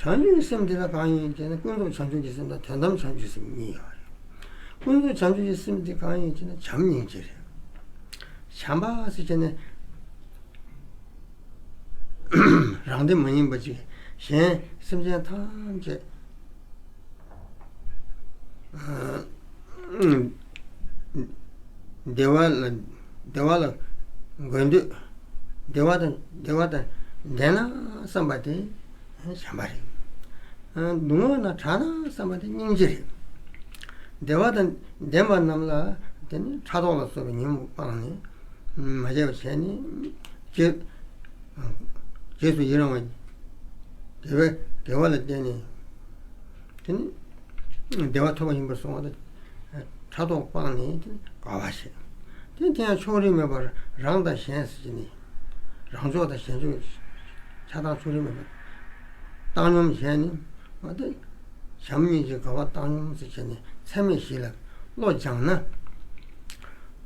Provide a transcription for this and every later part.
བྱང་ཆུབ་ཀྱི་སེམས་དེ་དག་གང་ཡིན་ཞེ་ན་ཀུན་རྫོབ་བྱང་ཆུབ་ཀྱི་སེམས་དང་དོན་དམ་བྱང་ཆུབ་ཀྱི་སེམས་གཉིས་ཀ་རེད། ཀུན་རྫོབ་བྱང་ཆུབ་ཀྱི་སེམས་དེ་གང་ཡིན་ཞེ་ན་བྱམས་སྙིང་རྗེ་རེད། བྱམས་པ་ཞེས་བྱ་ནི། རང་དེ་མ་ཡིན་པ་ཅིག་གཞན་སེམས་ཅན་ཐམས་ཅད། བདེ་བ་དང་དགོས་འདོད་བདེ་བ་དང་ལྡན་ན་བསམ་པ་དེ་བྱམས་པ་རེད། སྡུག་བསྔལ་ན་གྲགས་ན་བསམ་པ་དེ་སྙིང་རྗེ་རེད། བདེ་བ་དང་ལྡན་པ་རྣམས་ལ་དེ་ནི་ཕྲག་དོག་ལ་སོགས་པའི་ཉོན་མོངས་སྤངས་ནས་མ་བྱས་པ་བྱས་ནས་རྗེས་སུ་ཡི་རང་བ། དགེ་བ་ལ་བརྟེན་ནས། བདེ་བ་ཐོབ་པ་ཡིན་པར་སོང་བ་དང། ཕྲག་དོག་སྤངས་ནས་དགའ་བར་བྱས། དེ་དེ་ཡང་ཕྱོགས་རིས་མེད་པར་རང་དང་གཞན་སེལ་ནས། རང་ཕྱོགས་དང་གཞན་ཕྱོགས་ཆགས་སྡང་ཕྱོགས་རིས་མེད་པར་བཏང་སྙོམས་བྱས་ནས། བྱམས་སྙིང་རྗེའི་དགའ་བ་བཏང་སྙོམས་སུ་བྱས་ནས་ཚད་མེད་བཞི་ལ་བློ་སྦྱངས་ན།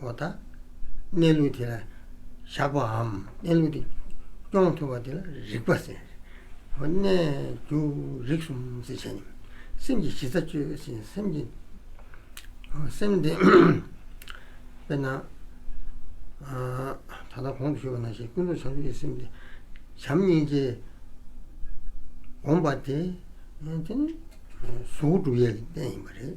བ་དང། གནས་ལུགས་དེ་ལ་བཞག་པའམ་གནས་ལུགས་དེ་སྐྱོང་ཐུབ་པ་དེ་ལ་རིག་པ་ཟེར། གནས་འགྱུར་རིག་གསུམ་གཟི་བྱས་ནི། སེམས་ཀྱི་གཞི་རྩ་བཅོས་ཤིང་སེམས་ཀྱི། སེམས་དེ། དཔེར་ན། ད་ལྟ་གོང་དུ་ཞུས་པ་ན་ཞེས་ཀུན་རྫོབ་བྱང་ཆུབ་ཀྱི་སེམས་དེ། བྱམས་སྙིང་རྗེ། སྒོམ་པ་དེ། དེ་ནི་གཟུགས་སྐུ་གྲུབ་དབྱེ་བའི་གནས་ཡིན་པ་རེད།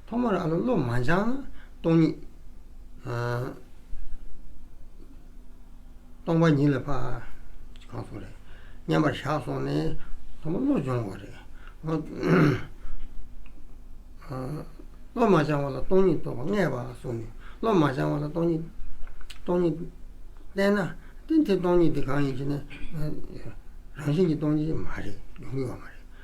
ཐོག་མར་ཨ་ལོ་བློ་མ་འཆང་ན་སྟོང་ཉིད། སྟོང་པ་ཉིད་ལ་འཕགས། གང་སོང་རེད། མཉམ་པར་བཞག་སོང་ནས། ཐོག་མ་བློ་སྦྱོང་བ་རེད། བློ་མ་འཆང་བ་ལ་སྟོང་ཉིད་རྟོགས་པ་ལྔས་པ་སོང་ནས། བློ་མ་འཆང་བ་ལ་སྟོང་ཉིད། སྟོང་ཉིད། བསྟན་ན། དེ་སྟོང་ཉིད་དེ་གང་ཡིན་ཞེ་ན། རང་བཞིན་གྱི་སྟོང་ཉིད་མ་རེད། ཡོང་གི་ཡོད་མ་རེད།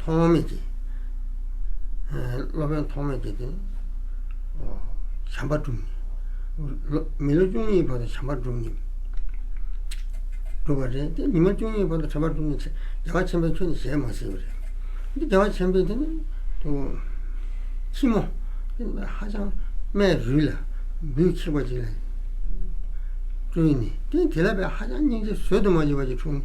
ཐོག་མེད་ཀྱི། སློབ་དཔོན་ཐོག་མེད་ཀྱི་དེ། བྱམས་པ་བསྒྲུབས། མི་ལོ་བཅུ་གཉིས་བར་དུ་བྱམས་པ་བསྒྲུབས་ནས། བསྒྲུབས་པ་རེད་དེ་མི་ལོ་བཅུ་གཉིས་བར་དུ་བྱམས་པ་བསྒྲུབས་ནས། རྒྱལ་བ་ཆེན་པོས་ཁྱོད་ནི་ཞལ་མ་གཟིགས་པ་རེད། རྒྱལ་བ་ཆེན་པོས་དེ་ནི། ཁྱི་མོ། ཧ་ཅང་སྨད་རུལ་ལ། བུ་ཁྱི་པ་ཅིག་ལ། སྤྲུལ་ནས། དེ་ལ་བས་ཧ་ཅང་སྙིང་རྗེ་བཟོད་དུ་མ་གྱུར་པ་ཅིག་འཁྲུངས།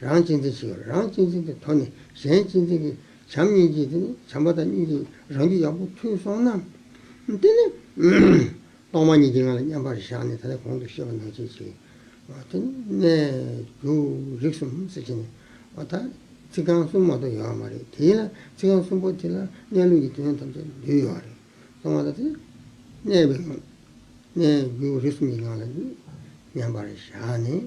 རང་གཅེས་འཛིན་ཞེས་པ་རང་གཅེས་འཛིན་གྱི་དོན་ནི་གཞན་གཅེས་འཛིན་གྱི་བྱམས་སྙིང་རྗེ་དེ་ནི་བྱམས་པ་དང་སྙིང་རྗེ་རང་རྒྱུད་ཡག་པོ་ཐོས་སོང་ན། དེ་ནི། གཏོར་མ་གཉིས་ཀྱིས་ང་ལ་མཉམ་པར་བཞག་ནས་ད་ལྟ་གོང་དུ་བཤད་པ་ནང་བྱེད་ཅིག། དེ་ནི་གནས་གྱུར་རིགས་གསུམ་གསེར་ཕྱེ་ནས་བ་དག་ཚིག་རྐང་གསུམ་མ་གཏོགས་ཡོད་པ་མ་རེད་དེ་ལ་ཚིག་རྐང་གསུམ་པོ་དེ་ལ་གནས་ལུགས་ཀྱི་དོན་ཐམས་ཅད་འདུས་ཡོད་རེད་གསུང་བ་དང་དེ་གནས་པའི་ངང་གནས་གྱུར་རིགས་གསུམ་གྱི་ངང་ལ་མཉམ་པར་བཞག་ནས།